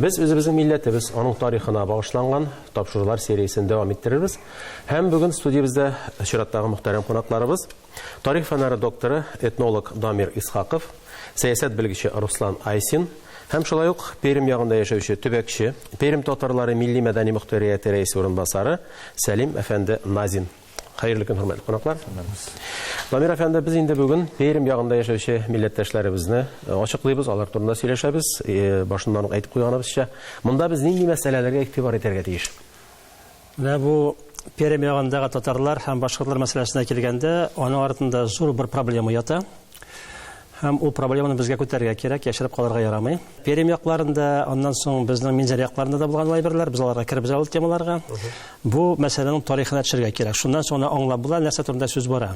Без үзебезнең милләтебез, аның тарихына багышланган тапшырулар сериясен дәвам иттерербез. Һәм бүген студиябездә чираттагы мөхтәрәм кунакларыбыз, тарих фәннәре докторы, этнолог Дамир Исхаков, сәясәт белгече Руслан Айсин һәм шулай ук Пермь ягында яшәүче төбәкче, Пермь татарлары милли-мәдәни мөхтәрияте рәисе урынбасары Сәлим әфәнде Назин Хәерле көн, хөрмәтле кунаклар. Намир әфәнде, без инде бүген Пермь ягында яшәүче милләттәшләребезне э, ачыклыйбыз, алар турында сөйләшәбез. Э, башыннан ук әйтеп куйганыбызча, монда без нинди мәсьәләләргә игътибар итәргә тиеш? Менә бу Пермь ягындагы татарлар һәм башкортлар мәсьәләсенә килгәндә, аның артында зур бер проблема ята. Һәм ул проблеманы безгә күтәрергә кирәк, яшереп калырга ярамый. Перем якларында, аннан соң безнең Минзәр якларында да булган лайберлар, без аларга кербез ул темаларга. Бу мәсьәләнең тарихына төшергә кирәк. Шуннан соң аңлап була, нәрсә турында сүз бара.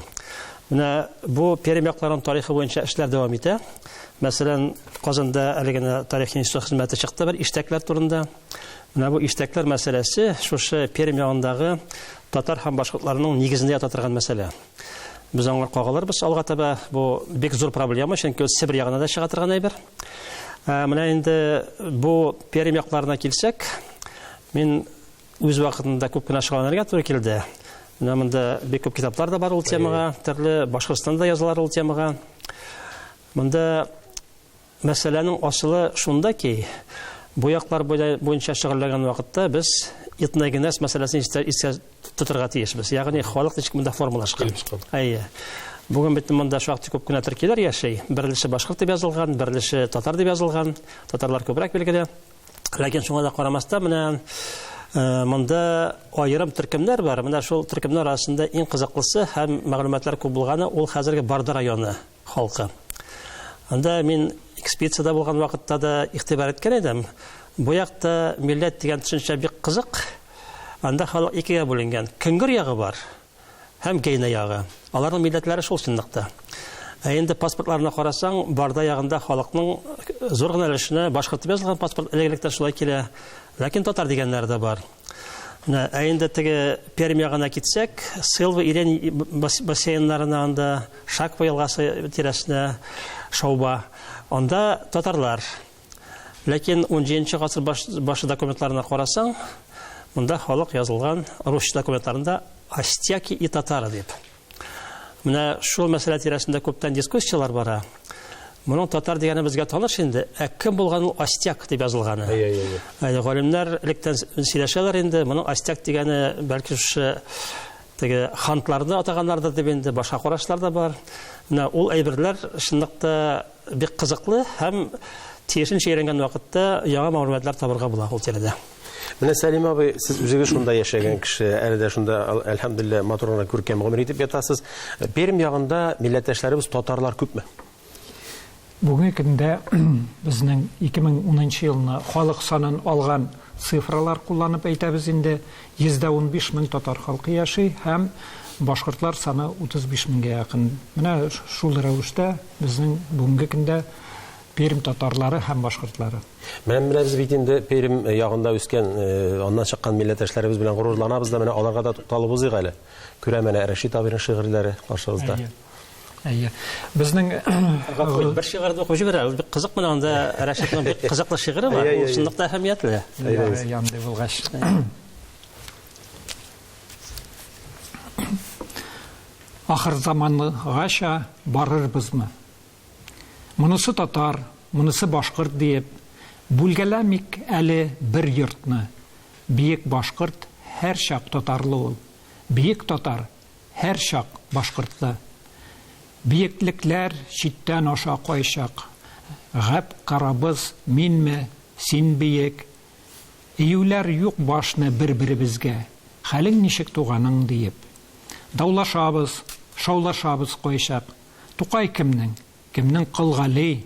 Менә бу Перем якларының тарихы буенча эшләр дәвам итә. Мәсәлән, Казанда әле генә тарих институты хезмәте чыкты бер иштәкләр турында. Менә бу иштәкләр мәсьәләсе шушы Перем ягындагы татар һәм башкортларның нигезендә ята торган мәсьәлә. Без аңар кагалырбыз алга таба. Бу бик зур проблема, чөнки ул Себер ягына да чыга торган әйбер. Ә, менә инде бу Пермь якларына килсәк, мин үз вакытында күп кенә шөгыльләнергә туры килде. Менә монда бик күп китаплар да бар ул темага, төрле Башкортстанда язылар ул темага. Монда Мәсьәләнең асылы шунда ки, бу яклар буенча шөгыльләнгән вакытта без этногенез мәсьәләсен истә тотарга тиешбез. Ягъни, халык ничек монда формалашкан. Әйе. Бүген бит монда шактый күп кенә төркиләр яши. Берлеше башкорт дип язылган, берлеше татар дип язылган. Татарлар күбрәк билгеле. Ләкин шуңа да карамастан, менә Э, монда аерым төркемнәр бар. Менә шул төркемнәр арасында иң кызыклысы һәм мәгълүматлар күп булганы ул хәзерге Барда районы. Халкы. Анда мин экспедициядә булган вакытта да игътибар иткән идем. Бу якта милләт дигән төшенчә бик кызык. Анда халык икегә бүленгән. Көңгер ягы бар һәм Гейна ягы. Аларның милләтләре шул чынлыкта. Ә инде паспортларына карасаң, Барда ягында халыкның зур гына өлешенә башкортып язылган паспорт элек-электән шулай килә. Ләкин татар дигәннәре дә бар. Менә, ә инде теге Пермь ягына китсәк, Сылва Ирен бассейннарына анда Шаква елгасы тирәсенә шауба. Анда татарлар. Ләкин 17 гасыр башы документларына карасаң, монда халык язылган русча документларында Астяки и татары дип. Менә шул мәсьәлә тирәсендә күптән дискуссияләр бара. Моның татар дигәне безгә таныш инде. Ә кем булган ул Астяк дип язылганы? Әйе, әйе, әйе. Әйе, галимнәр электән сөйләшәләр инде. Моның Астяк дигәне бәлки шушы теге хантларны атаганнардыр дип инде башка карашлар да бар. Менә ул әйберләр чынлыкта Бик кызыклы һәм тиешенчә өйрәнгән вакытта яңа мәгълүматлар табырга була ул тирәдә. Менә Сәлим абый, сез үзегез шунда яшәгән кеше, әле дә шунда, әлхәмдулилләһ, матур гына күркәм гомер итеп ятасыз. Пермь ягында милләттәшләребез татарлар күпме? Бүгенге көндә безнең 2010 елны халык санын алган цифралар кулланып әйтәбез инде, 115 мең татар халкы яши һәм башкортлар саны 35 меңгә якын. Менә шул рәвештә Безнең бүгенге көндә Пермь татарлары һәм башкортлары. Менә менә без бит инде Пермь ягында үскән, аннан чыккан милләттәшләребез белән горурланабыз да, менә аларга да тукталып узыйк әле. Күрәм әнә Рәшит абыйның шигырьләре каршыбызда. Әйе. Әйе. Безнең Гафу, бер шигырь дә укып җибәрә. Ул бик кызык менә анда Рәшитның бик кызыклы шигыре бар. Ул чынлыкта әһәмиятле. Әйе, әйе. Андый булгач. Ахыр замангача барырбызмы? Монысы татар, монысы башкорт диеп, бүлгәләмик әле бер йортны. Биек башкорт һәрчак татарлы ул. Биек татар һәрчак башкортлы. Биеклекләр читтән аша кайчак. Гәп карабыз, минме, син биек, Июләр юк башны бер-беребезгә, Хәлең ничек туганың? диеп. Даулашабыз, шаулашабыз кайчак, Тукай кемнең? Кемнең Кол Гали?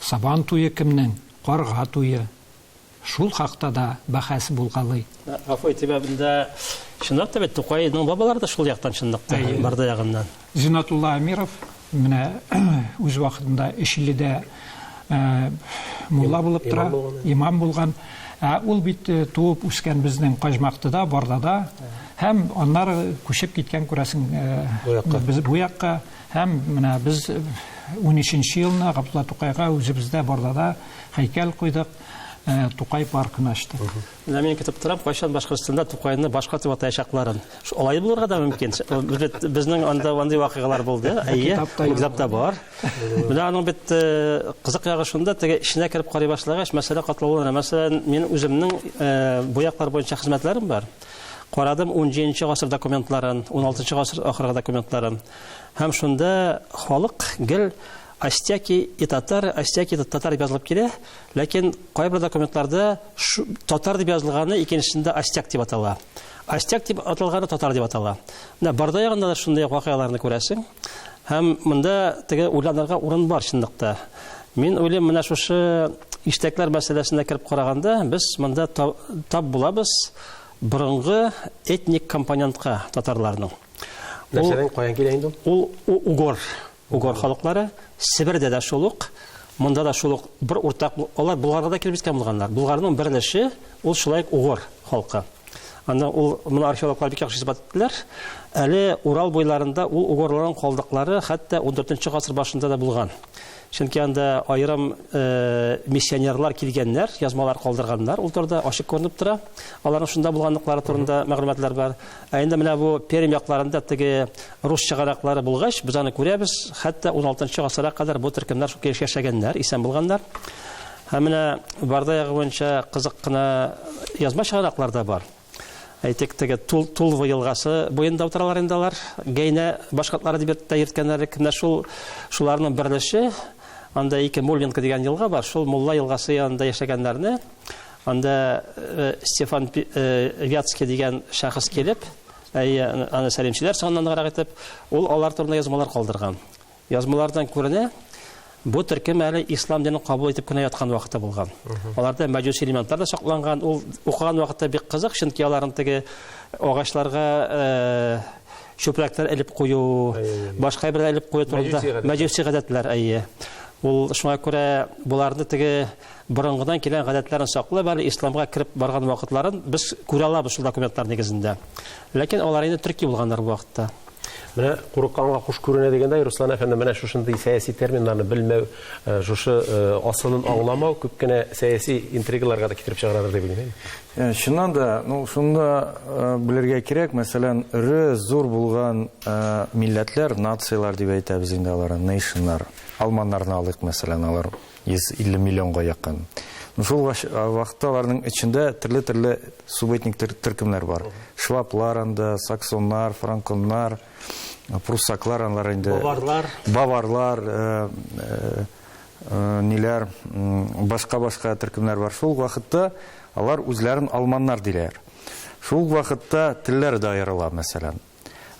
Сабан туе кемнең? Карга туе. Шул хакта да бәхәс булгалый. Гафу итегә, бында чынлап та бит Тукайның бабалары да шул яктан чынлыкта, Барда ягыннан. Зиннатулла Әмиров менә үз вакытында Өчиледә мулла булып тора, имам булган. Ә ул бит туып үскән безнең Каҗмактыда, Бардада һәм аннары күчеп киткән күрәсең без бу якка һәм менә без 13 елны Габдулла Тукайга үзебездә Бардада һәйкәл куйдык, Тукай паркын ачтык. Менә мин көтеп торам, кайчан Башкортстанда Тукайны башка дип атаячакларын. Алай булырга да мөмкин. Бит безнең анда андый вакыйгалар булды. Әйе, китапта бар. Менә аның бит э, кызык ягы шунда, теге эченә кереп карый башлагач, мәсьәлә катлаулана. Мәсәлән, мин үземнең э, бу яклар буенча хезмәтләрем бар. Карадым 17 гасыр документларын, 16 гасыр ахыргы документларын. Һәм шунда халык гел Остяки и татары, остяки и татары дип язылып килә, ләкин кайбер документларда татар дип язылганы икенчесендә остяк дип атала. Остяк дип аталганы татар дип атала. Менә Барда ягында да шундый вакыйгаларны күрәсең. Һәм монда теге уйланырга урын бар чынлыкта. Мин уйлыйм, менә шушы иштәкләр мәсьәләсенә кереп караганда, без монда тап булабыз борынгы этник компонентка татарларның. Нәрсәдән каян килә инде ул? Ул угор. Угор халыклары, Себердә дә шул ук, монда да шул ук бер уртак, алар Болгарга да килеп җиткән булганнар. Болгарның бер өлеше ул шулай ук угор халкы. Анда ул моны археологлар бик яхшы исбат иттеләр. Әле Урал буйларында ул угорларның калдыклары хәтта 14 нче гасыр башында да булган. Чөнки анда аерым э, миссионерлар килгәннәр, язмалар калдырганнар, ул турыда ачык күренеп тора. Аларның шунда булганлыклары турында мәгълүматлар бар. Ә инде менә бу Пермь якларында теге Рус чыганаклары булгач, без аны күрәбез, хәтта уналтынчы гасырга кадәр бу төркемнәр шул килеш яшәгәннәр, исән булганнар. Һәм менә Барда ягы буенча кызык кына язма чыганаклар да бар. Әйтик, теге Тул, Тулва елгасы буенда утыралар инде алар. Гәйнә башкортлары дип тә йөрткәннәр элек. Менә шул шуларның берлеше, анда ике Мулинка дигән елга бар, шул Мулла елгасы янында яшәгәннәрне анда Стефан Вятский дигән шәхес килеп, Әйе, аны сәлимчеләр санланырак итеп, ул алар турында язмалар калдырган. Язмалардан күренә, бу төркем әле ислам динен кабул итеп кенә яткан вакыты булган. Аларда мәҗүси элементлар да сакланган. Ул укыган вакытта бик кызык, чөнки аларның теге агачларга э, чүпрәкләр элеп кую, башка бер элеп кую турында мәҗүси гадәтләр әйе. Ул шуңа күрә боларны теге борынгыдан килгән гадәтләрен саклап әле исламга кереп барган вакытларын без күрә алабыз шул документлар нигезендә. Ләкин алар инде төрки булганнар бу вакытта. Менә курыкканга куш күренә дигәндәй, Руслан әфәнде, менә шушындый сәяси терминнарны белмәү, шушы асылын аңламау күп кенә сәяси интригаларга да китереп чыгарадыр дип уйлыйм. Чыннан да, ну, шуны да белергә кирәк, мәсәлән, эре, зур булган милләтләр, нацияләр дип әйтәбез инде аларны, нейшннар. Алманнарны алыйк, мәсәлән, алар 150 миллионга якын. Ну, шул вакытта аларның эчендә төрле-төрле субэтник төркемнәр бар. Шваплар анда, саксоннар, франконнар, пруссаклар анлар инде. Баварлар. Баварлар, э, э, э, ниләр, башка-башка төркемнәр бар. Шул вакытта алар үзләрен алманнар диләр. Шул вакытта телләр дә аерыла, мәсәлән.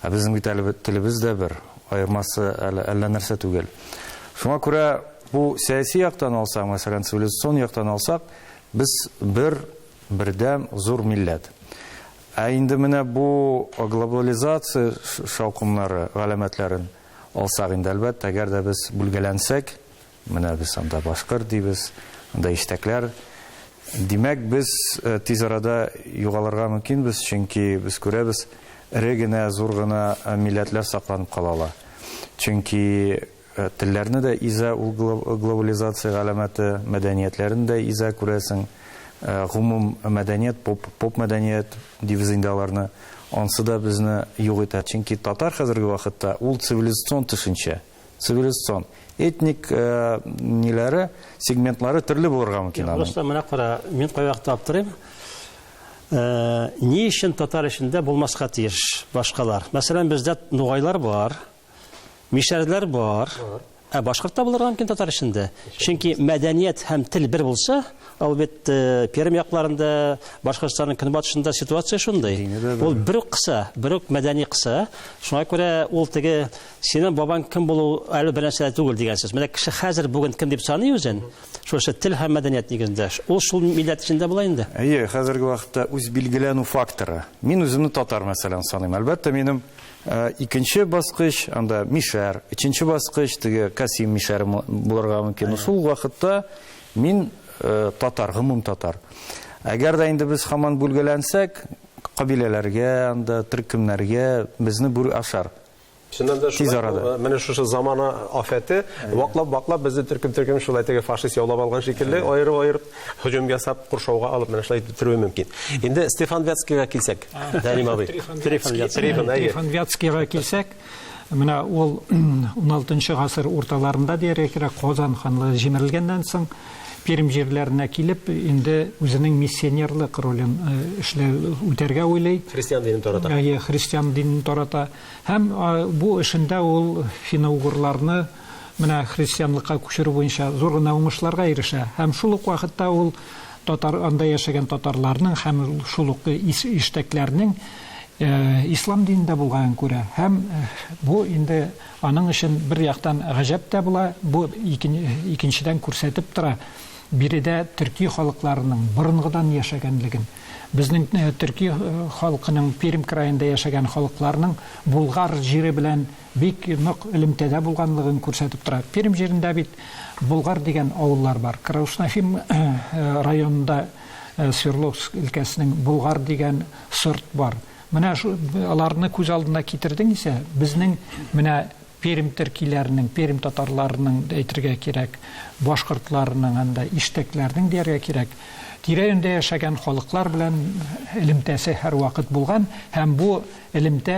Ә безнең бит әле телебез дә бер, аермасы әле әллә нәрсә түгел. Шуңа күрә бу сәяси яктан алсак, мәсәлән, цивилизацион яктан алсак, без бер бердәм зур милләт. Ә инде менә бу глобализация шаукымнары галәмәтләрен алсак инде, әлбәттә, әгәр дә без бүлгәләнсәк, Менә без анда башкорт дибез, анда иштәкләр. Димәк, без тиз арада югалырга мөмкинбез, чөнки без күрәбез, эре генә, зур гына милләтләр сакланып кала ала. Чөнки телләрне дә изә ул глобализация галәмәте, мәдәниятләрен дә изә, күрәсең. Гомум мәдәният, поп, поп мәдәният дибез инде аларны. Ансы да безне юк итә. Чөнки татар хәзерге вакытта ул цивилизацион төшенчә. цивилизацион этник э, ниләре сегментлары төрле булырга мөмкин аның просто менә кара мин кай вакытта аптырыйм э, ни өчен татар эчендә булмаска тиеш башкалар мәсәлән бездә нугайлар бар мишәрләр бар ә башкорт та булырга мөмкин татар эчендә чөнки мәдәният һәм тел бер булса ал бит э, пермь якларында башкортстанның көнбатышында ситуация шундый ул бер үк кыса бер үк мәдәни кыса шуңа күрә ул теге Синең бабаң кем булу әле бернәрсә дә түгел дигән сүз. Менә кеше хәзер бүген кем дип саный үзен? Шушы тел һәм мәдәният нигезендә. Ул шул милләт эчендә була инде. Әйе, хәзерге вакытта үз билгеләнү факторы. Мин үземне татар мәсәлән саныйм. Әлбәттә, минем икенче баскыч анда мишәр, өченче баскыч теге Касим мишәре булырга мөмкин. Шул вакытта мин татар, гомум татар. Әгәр дә инде без хаман бүлгәләнсәк, кабиләләргә, анда төркемнәргә безне бүр ашар. Чыннан да шулай. Тиз арада. Э, менә шушы замана афәте ваклап-ваклап безне төркем-төркем шулай теге фашист яулап алган шикелле аерып-аерып һөҗүм ясап куршауга алып менә шулай бетерүе мөмкин. Инде Стефан Вятскийга килсәк, Дәлим абый. Стефан Вятскийга килсәк, менә ул 16 гасыр урталарында диярлек Казан ханлыгы җимерелгәннән соң Пермь җирләренә килеп, инде үзенең миссионерлык ролен эшләү, үтәргә уйлый. Христиан динен тарата. Әйе, христиан динен тарата. Һәм бу эшендә ул финно-угорларны менә христианлыкка күчерү буенча зур гына уңышларга ирешә. Һәм шул ук вакытта ул татар, анда яшәгән татарларның һәм шул ук иштәкләрнең ислам динендә булганын күрә. Һәм бу инде Аның өчен, бер яктан, гаҗәп тә була, бу, икенчедән, күрсәтеп тора, биредә төрки халыкларының борынгыдан яшәгәнлеген. Безнең төрки халкының Пермь краенда яшәгән халыкларның Болгар җире белән бик нык элемтәдә булганлыгын күрсәтеп тора. Пермь җирендә бит Болгар дигән авыллар бар. Крауш-Нахим районында Свердловск өлкәсенең Болгар дигән сорт бар. Менә шу аларны күз алдына китердең исә, безнең менә Пермь теркиләренең, Пермь татарларының да әйтергә кирәк, башкортларының анда, иштәкләрнең дияргә кирәк, тирә-юньдә яшәгән халыклар белән элемтәсе һәрвакыт булган һәм бу элемтә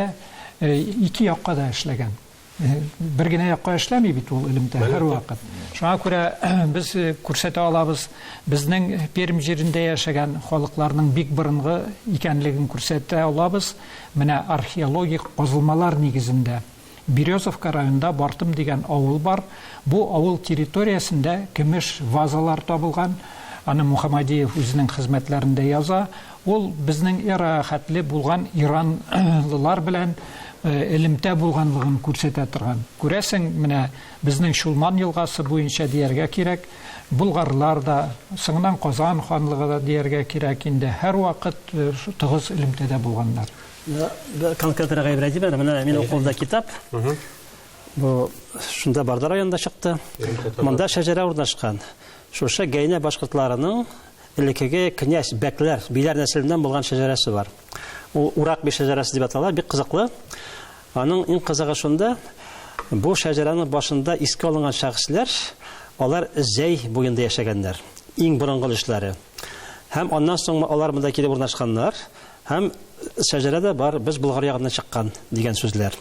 ике якка да эшләгән. бер генә якка эшләми бит ул элемтә һәрвакыт. Шуңа күрә без э, күрсәтә алабыз, безнең Пермь җирендә яшәгән халыкларның бик борынгы икәнлеген күрсәтә алабыз. Менә археологик казылмалар нигезендә Березовка районында Бартым дигән авыл бар. Бу авыл территориясендә көмеш вазалар табылган. Аны Мухаммадиев үзенең хезмәтләрендә яза. Ул безнең эрага хәтле булган иранлылар белән элемтә булганлыгын күрсәтә торган. Күрәсең, менә безнең Чулман елгасы буенча дияргә кирәк, болгарлар да, соңыннан Казан ханлыгы да дияргә кирәк инде, һәрвакыт тыгыз элемтәдә булганнар. Конкретрәк әйбрәтим әле, менә минем кулымда китап. Бу шунда Барда районында чыкты. Монда шәҗәрә урнашкан. Шушы Гәйнә башкортларының элеккеге князь, бәкләр, биләр нәселеннән булган шәҗәрәсе бар. Ул урак би шәҗәрәсе дип атала, бик кызыклы. Аның иң кызыгы шунда, бу шәҗәрәнең башында искә алынган шәхесләр, алар Зәй буенда яшәгәннәр. Иң борынгы өлешләре. Һәм аннан соң алар монда килеп урнашканнар, һәм шәҗәрә дә бар, без Болгар ягыннан чыккан дигән сүзләр.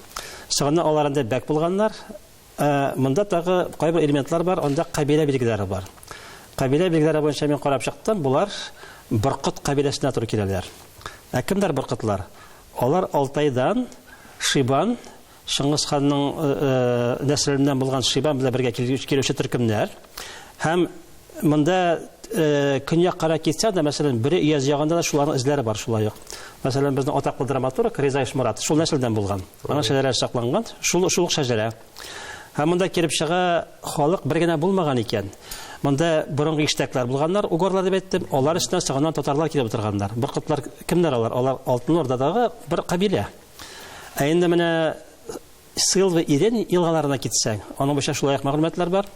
Соңыннан алар анда бәк булганнар, Ә, монда тагы кайбер элементлар бар, анда кабилә билгеләре бар. Кабилә билгеләре буенча мин карап чыктым, булар Боркыт кабиләсенә туры киләләр. Ә кемдер Боркытлар? Алар Алтайдан Шибан, Шыңгыз ханның э, э, нәселеннән булган Шибан белән бергә килүче төркемнәр һәм Монда көньяк кара китсә дә, мәсәлән, Бөре Ияз ягында да шуларның эзләре бар шулай ук. Мәсәлән, безнең атаклы драматург Риза Ишмурат шул нәселдән булган. Аның шәҗәрәсе сакланган, шул шул ук шәҗәрә. Һәм монда килеп чыга, халык бер генә булмаган икән. Монда борынгы иштәкләр булганнар, угорлар дип әйттем, алар өстенә соңыннан татарлар килеп утырганнар. Боркытлар кемнәр алар? Алар Алтын Ордадагы бер кабилә. Ә инде менә Сылва Ирен елгаларына китсәң, аның буенча шулай ук мәгълүматлар бар.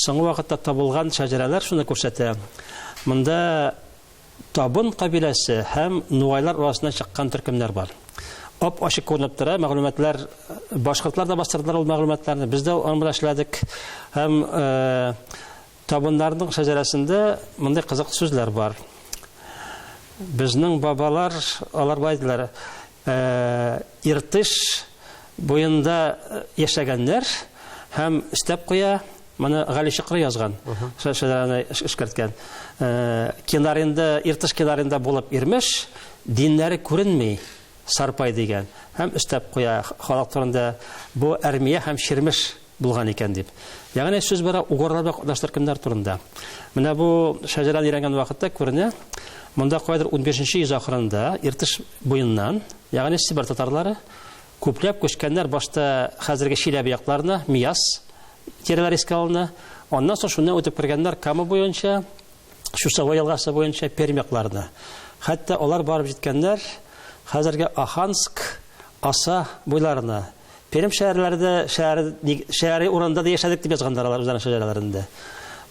Соңгы вакытта табылган шәҗәрәләр шуны күрсәтә. Монда Табын кабиләсе һәм нугайлар арасына чыккан төркемнәр бар. Ап ачык күренеп тора, мәгълүматлар башкортлар да бастырдылар ул мәгълүматларны. Без дә аны белән эшләдек. Һәм табыннарның шәҗәрәсендә мондый кызык сүзләр бар. Безнең бабалар алар бай диләр. Иртеш буенда яшәгәннәр һәм өстәп куя, моны Гали Чокры язган, шәҗәрәне эшкәрткән. Кенарында, Иртеш кенарында булып Ирмеш, диннәре күренми, Сарпай дигән. Һәм өстәп куя, халык турында, бу Әрмия һәм Чирмеш. булган икән дип. Ягъни сүз бара угорлар белән катнаш төркемнәр турында. Менә бу шәҗәрәне өйрәнгән вакытта күренә, монда кайдыр унбишенче йөз ахырында Иртыш буеннан, ягъни Себер татарлары, күпләп күчкәннәр, башта хәзерге Чиләбе якларына, Мияс тирәләре искә алына, аннан соң шуннан үтеп кергәннәр Кама буенча, Чусовой елгасы буенча Пермь якларына. Хәтта алар барып җиткәннәр хәзерге Аханск, Аса буйларына. Пермь шәһәрләрендә шәһәр шәһәри урында да яшәдек дип язганнар алар үзләренең шәҗәрәләрендә.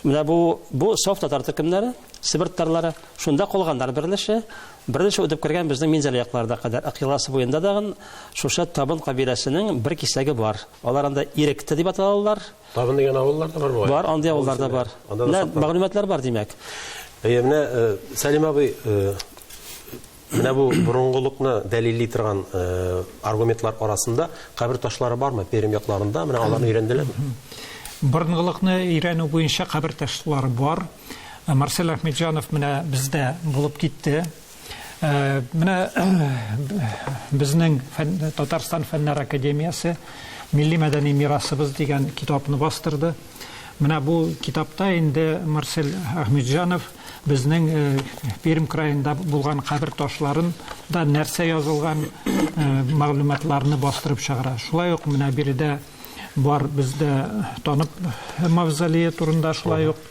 Менә бу бу соф татар төркемнәре, Себер татарлары шунда калганнар беренче. Беренче үтеп кергән безнең Минзәлә якларына кадәр Акъяласы буенда дагын шушы Табын кабиләсенең бер кисәге бар. Алар анда Иректе дип аталалар. Тагын дигән авыллар да бар бугай. Бар, андый авыллар да бар. Менә мәгълүматлар бар, димәк. Әйе, менә э, Сәлим абый э, менә бу борынгылыкны дәлилли торган э, аргументлар арасында кабер ташлары бармы Пермь якларында? Менә аларны өйрәнделәрме? Борынгылыкны өйрәнү буенча кабер ташлары бар. Марсель Ахмеджанов менә бездә булып китте. Э, менә безнең Татарстан фәннәр академиясе милли мәдәни мирасыбыз дигән китапны бастырды. Менә бу китапта инде Марсель Ахмеджанов безнең э, Пермь краенда булган кабер ташларын да нәрсә язылган э, мәгълүматларны бастырып чыгара. Шулай ук менә биредә бар бездә танып мавзолее турында шулай ук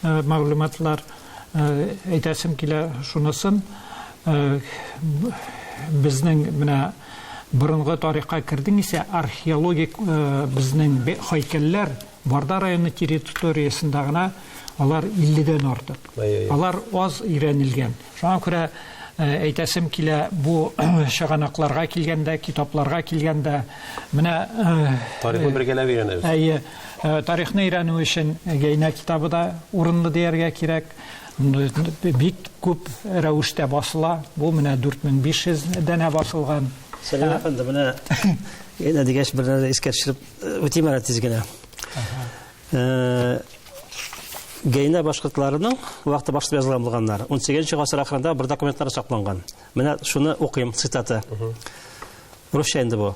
мәгълүматлар Әйтәсем килә шунысын, безнең менә борынгы тарихка кердең исә, археологик безнең һәйкәлләр Барда районы территориясендә генә алар 50 дән артык. Алар аз өйрәнелгән. Шуңа күрә әйтәсем килә, бу чыганакларга килгәндә, китапларга килгәндә, менә. Тарихны бергәләп өйрәнәбез. Әйе. Тарихны өйрәнү өчен Гәйнә китабы да урынлы дияргә кирәк. Бик күп рәвештә басыла. Бу менә 4500 данә басылган. Сәлим әфәнде, менә Гәйнә дигәч, бер нәрсә искә төшереп үтим әле тиз генә. Гәйнә башкортларының вакыты башта язылган булганнар. 18 гасыр ахырында бер документлар сакланган. Менә шуны укыйм, цитата. Русча инде бу.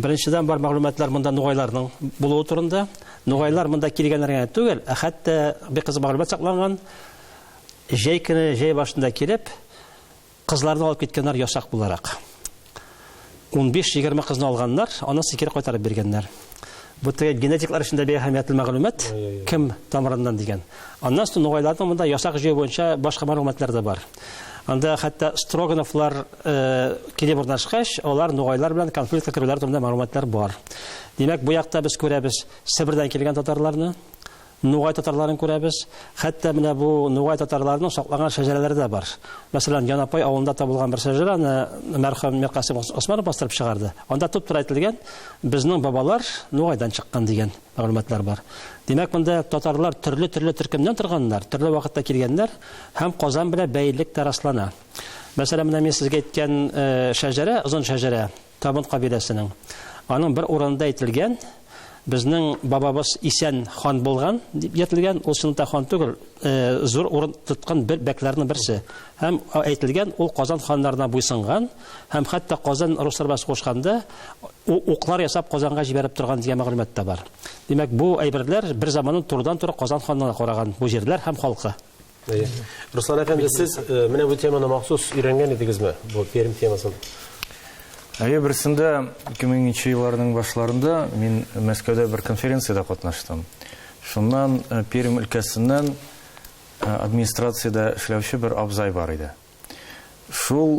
Беренчедән бар мәгълүматлар монда нугайларның булуы турында. Нугайлар монда килгәннәр генә түгел, ә хәтта бик кызык мәгълүмат сакланган. Җәй көне, җәй башында килеп, кызларны алып киткәннәр ясак буларак. 15-20 кызны алганнар, аннан соң кире кайтарып биргәннәр. Бу теге генетиклар өчен дә бик әһәмиятле мәгълүмат, кем тамырыннан дигән. Аннан соң нугайларның монда ясак җыю буенча башка мәгълүматлар да бар. Анда хәтта Строгановлар э, килеп урнашкач, алар нугайлар белән конфликтка керүләр турында мәгълүматлар бар. Димәк, бу якта без күрәбез Себердән килгән татарларны, Нугай татарларын күрәбез. Хәтта менә бу нугай татарларының саклаган шәҗәрәләре дә бар. Мәсәлән, Янапай авылында табылган бер шәҗәрәне мәрхүм Миркасыйм Госманов бастырып чыгарды. Анда туп-туры әйтелгән, Безнең бабалар Нугайдан чыккан, дигән мәгълүматлар бар. Димәк, монда татарлар төрле-төрле төркемнән торганнар, төрле вакытта килгәннәр һәм Казан белән бәйлелек тә раслана. Мәсәлән, менә мин сезгә әйткән шәҗәрә, озын шәҗәрә, Табын кабиләсенең. Аның бер урынында әйтелгән, безнең бабабыз Исән хан булган, дип йөртелгән. Ул чынлыкта хан түгел, зур урын тоткан бер бәкләрнең берсе. Һәм әйтелгән, ул Казан ханнарына буйсынган һәм хәтта Казан руслар белән сугышканда уклар ясап Казанга җибәреп торган дигән мәгълүмат та бар. Димәк, бу әйберләр берзаманын турыдан-туры Казан ханына караган бу җирләр һәм халкы. Руслан әфәнде, сез менә бу теманы махсус өйрәнгән идегезме? Бу Пермь темасын. Әйе, берсендә 2000 елларның башларында мин Мәскәүдә бер конференциядә катнаштым. Шуннан Пермь өлкәсеннән администрациядә эшләүче бер абзай бар иде. Шул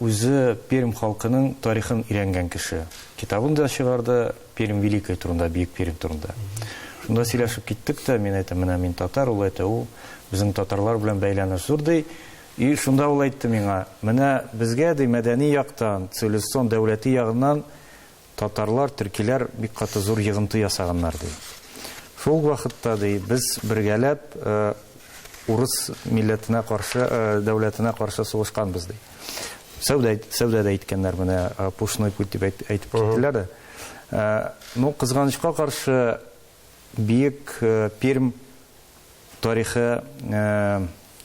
үзе Пермь халкының тарихын өйрәнгән кеше. Китабын да чыгарды Пермь Великой турында, Бөек Пермь турында. Шунда сөйләшеп киттек тә, мин әйтәм, менә мин татар, ул әйтә, ул безнең татарлар белән бәйләнеш зур, ди. И шунда ул әйтте миңа, менә безгә, ди, мәдәни яктан, цивилизацион дәүләти ягыннан Татарлар, төркиләр бик каты зур йыгынты ясаганнар, ди. Шул ук вакытта, ди, без бергәләп урыс милләтенә каршы, дәүләтенә каршы сугышканбыз, ди. Сәүдә, сәүдә дә иткәннәр, менә пушной путь дип әйтеп киттеләр дә. Ну, кызганычка каршы, биек Пермь тарихы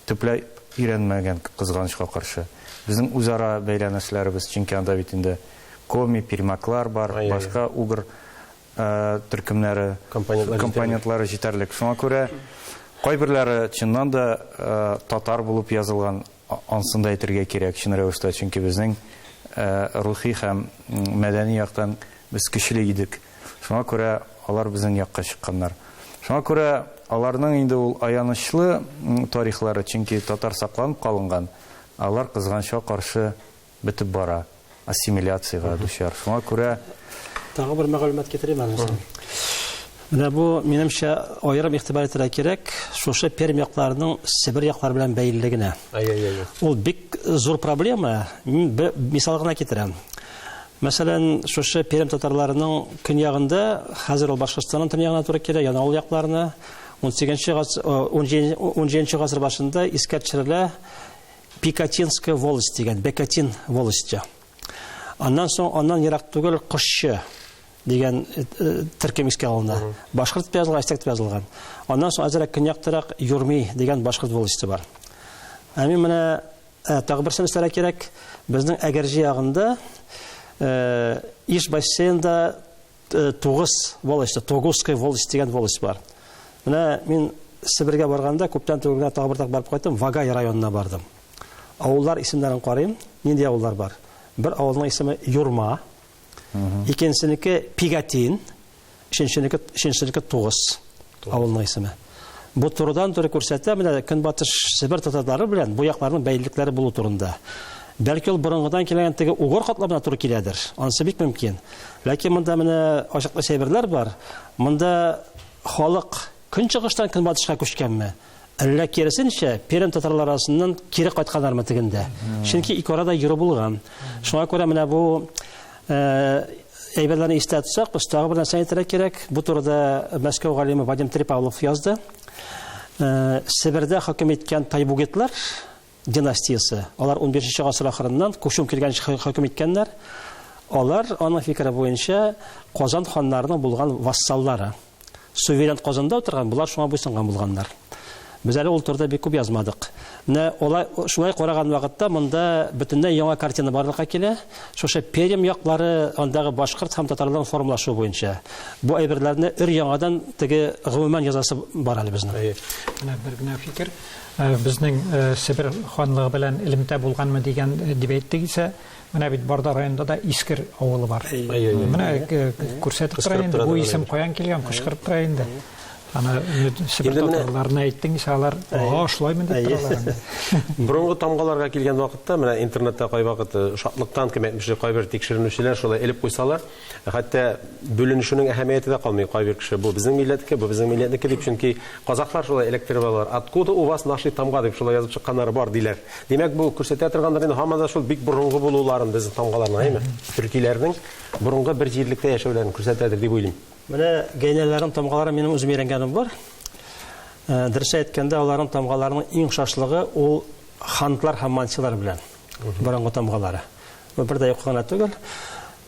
төпләй өйрәнмәгән, кызганычка каршы. Безнең үзара бәйләнешләребез, чөнки анда бит инде коми, пермяклар бар, башка угр төркемнәре, компонентлары җитәрлек. Шуңа күрә кайберләре чыннан да татар булып язылган, ансын да әйтергә кирәк, чын рәвештә, чөнки безнең рухи һәм мәдәни яктан Без көчле идек. Шуңа күрә алар безнең якка чыкканнар. Шуңа күрә аларның инде ул аянычлы тарихлары, чөнки татар сакланып калынган, ә алар кызганычка каршы бетеп бара, ассимиляциягә дучар. Шуңа күрә. Тагы бер мәгълүмат китерим әле соң. Менә бу, минемчә, аерым игътибар итәргә кирәк, шушы Пермь якларының Себер яклары белән бәйлелегенә. Ай-яй-яй. Ул бик зур проблема. Мин бер мисал гына китерәм. Мәсәлән, шушы Пермь татарларының көньягында, хәзер ул Башкортстанның төньягына туры килә, яны ул якларына 18 гасыр 17 гасыр башында искә төшерелә Пикатинская волость дигән, Бекатин волосте. Аннан соң аннан ерак түгел Кошчы дигән э, э, төркем искә алына. Башкорт дип язылган, астек дип язылган. Аннан соң азрак көньяктарак Юрми дигән башкорт волосте бар. Ә мин менә Ә, тагы берсен өстәрә кирәк. Безнең Әгерҗе ягында Иж бассейнда тугыз волость, Тогусская волость дигән волость бар. Менә мин Себергә барганда күптән түгел генә тагы бер тапкыр барып кайттым, Вагай районына бардым. Авыллар исемнәрен карыйм, нинди авыллар бар? Бер авылның исеме Юрма, икенчесенеке Пигатин, өченченеке, өченченеке Тугыз авылының исеме. Бу турыдан туры күрсәтә менә Көнбатыш Себер татарлары белән бу якларның бәйлелекләре булу турында. Бәлки ул борынгыдан килгән теге угор катламына туры киләдер. Анысы бик мөмкин. Ләкин монда менә ачыклы әйберләр бар. Монда халык көнчыгыштан көнбатышка күчкәнме? Әллә киресенчә, Пермь татарлары арасыннан кире кайтканнармы тегендә? Чөнки ике арада йөрү булган. Шуңа күрә менә бу э, әйберләрне истә тотсак, без тагы бер нәрсә әйтергә кирәк. Бу турыда Мәскәү галиме Вадим Трипавлов язды. Э, Себердә хөкем иткән тайбугетлар династиясе. Алар унбишенче гасыр ахырыннан Кушум килгәнче хөкем иткәннәр. Алар, аның фикере буенча, Казан ханнарының булган вассаллары. Суверен Казанда утырган, болар шуңа буйсынган булганнар. Без әле ул турыда бик күп язмадык. Менә алай шулай караган вакытта монда бөтенләй яңа картина барлыкка килә. Шушы Пермь яклары, андагы башкорт һәм татарларның формалашуы буенча. Бу әйберләрне өр-яңадан теге гомумән язасы бар әле безнең. Менә бер генә фикер. Безнең Себер ханлыгы белән элемтә булганмы дигән дип әйтте исә, менә бит Барда районында да Искер авылы бар. Менә күрсәтеп тора инде, бу исем каян килгән, кычкырып тора инде. Аны Себер татарларына әйттең исә, алар, Ага, шулаймы дип торалар инде. Борынгы тамгаларга килгән вакытта, менә интернетта кайвакыт шатлыктан кем әйтмешли, кайбер тикшеренүчеләр шулай элеп куйсалар, Хәтта бүленешүнең әһәмияте дә калмый. Кайбер кеше бу безнең милләтнеке, бу безнең милләтнеке дип, чөнки казахлар шулай эләктереп алалар. Откуда у вас наши тамга дип шулай язып чыкканнары бар, диләр. Димәк, бу күрсәтә торгандыр инде һаман да шул бик борынгы булуларын безнең тамгаларның, әйеме? Төркиләрнең борынгы бер җирлектә яшәүләрен күрсәтәдер дип уйлыйм. Менә гәйнәләрнең тамгаларын минем үзем өйрәнгәнем бар. Дөрес әйткәндә, аларның тамгаларының иң охшашлыгы ул хантлар һәм манчылар белән. Борынгы тамгалары. Бу бер дә юк кына түгел.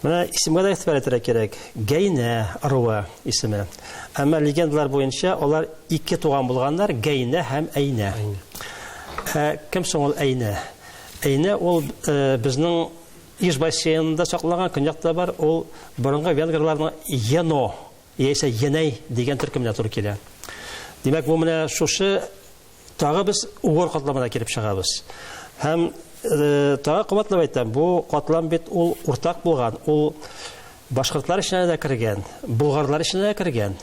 Менә исемгә дә игътибар итәргә кирәк. Гәйнә ыруы исеме. Әмма легендалар буенча алар ике туган булганнар, Гәйнә һәм Әйнә. Ә кем соң ул Әйнә? Әйнә ул э, безнең Иж бассейнында сакланган көньякта бар, ул борынгы венгрларның Ено яисә Енәй дигән төркеменә туры килә. Димәк, бу менә шушы тагы без угор катламына килеп чыгабыз. Һәм э, тагы кабатлап әйтәм, бу катлам бит ул уртак булган, ул башкортлар эченә дә кергән, болгарлар эченә дә кергән.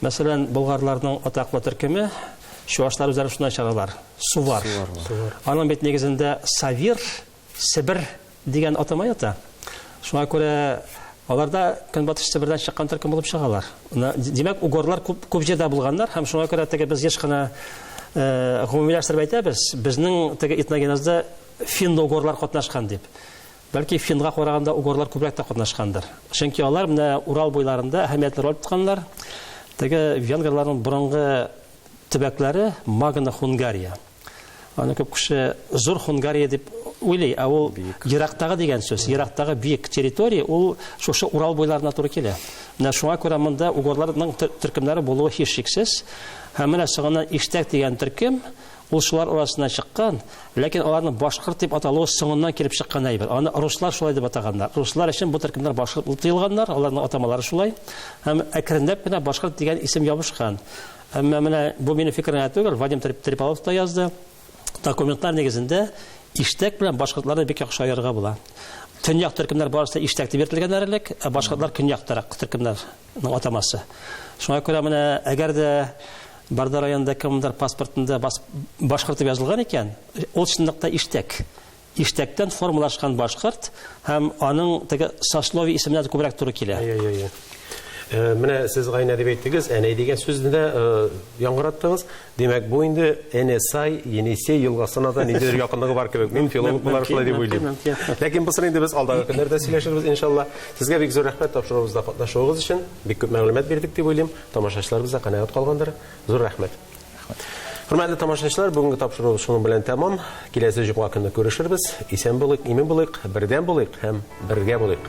Мәсәлән, болгарларның атаклы төркеме чувашлар үзләре шунда чыгалар, сувар. Аның бит нигезендә савир Себер дигән атама ята. Шуңа күрә аларда Көнбатыш Себердән чыккан төркем булып чыгалар. Димәк, угорлар күп, күп җирдә булганнар һәм шуңа күрә теге без еш кына э, гомумиләштереп әйтәбез, безнең теге этногенезда финно-угорлар катнашкан дип. Бәлки финга караганда угорлар күбрәк тә катнашкандыр. Чөнки алар менә Урал буйларында әһәмиятле роль тотканнар. Теге венгрларның борынгы төбәкләре Магна Хунгария. Аны күп кеше зур Хунгария дип уйлый, ә ул ерактагы дигән сүз, ерактагы биек территория, ул шушы Урал буйларына туры килә. Менә шуңа күрә монда угорларның төркемнәре булуы һичшиксез. Һәм менә соңыннан Иштәк дигән төркем, ул шулар арасына чыккан, ләкин аларның башкорт дип аталуы соңыннан килеп чыккан әйбер. Аны руслар шулай дип атаганнар. Руслар өчен бу төркемнәр башкорт дип тыелганнар, аларның атамалары шулай. Һәм әкренләп кенә башкорт дигән исем ябышкан. Әмма менә бу минем фикерем генә түгел, Вадим Трипалов та язды. Документлар нигезендә иштәк белән башкортларны бик яхшы аерырга була. Төньяк төркемнәр барысы да иштәк дип йөртелгәннәр элек, ә башкортлар көньяктарак төркемнәрнең атамасы. Шуңа күрә менә әгәр дә Барда районында кемдер паспортында башкорт дип язылган икән, ул чынлыкта иштәк. Иштәктән формалашкан башкорт һәм аның теге сословие исеменә дә күбрәк туры килә. Әйе, әйе, әйе. Э, менә сез гайнә дип әйттегез, әнәй дигән сүзне дә э, яңгыраттыгыз. Димәк, бу инде Энесай, Енисей елгасына да ниндидер якынлыгы бар кебек. Мин филолог буларак шулай дип уйлыйм. Ләкин бусын инде без алдагы көннәрдә сөйләшербез, иншалла. Сезгә бик зур рәхмәт тапшыруыбызда катнашуыгыз өчен. Бик күп мәгълүмат бирдек дип уйлыйм. Тамашачыларыбыз да канәгать калгандыр. Зур рәхмәт. Рәхмәт. Хөрмәтле тамашачылар, бүгенге тапшыру шуның белән тәмам. Киләсе җомга көне күрешербез. Исән булыйк, имин булыйк, бердәм булыйк һәм бергә булыйк.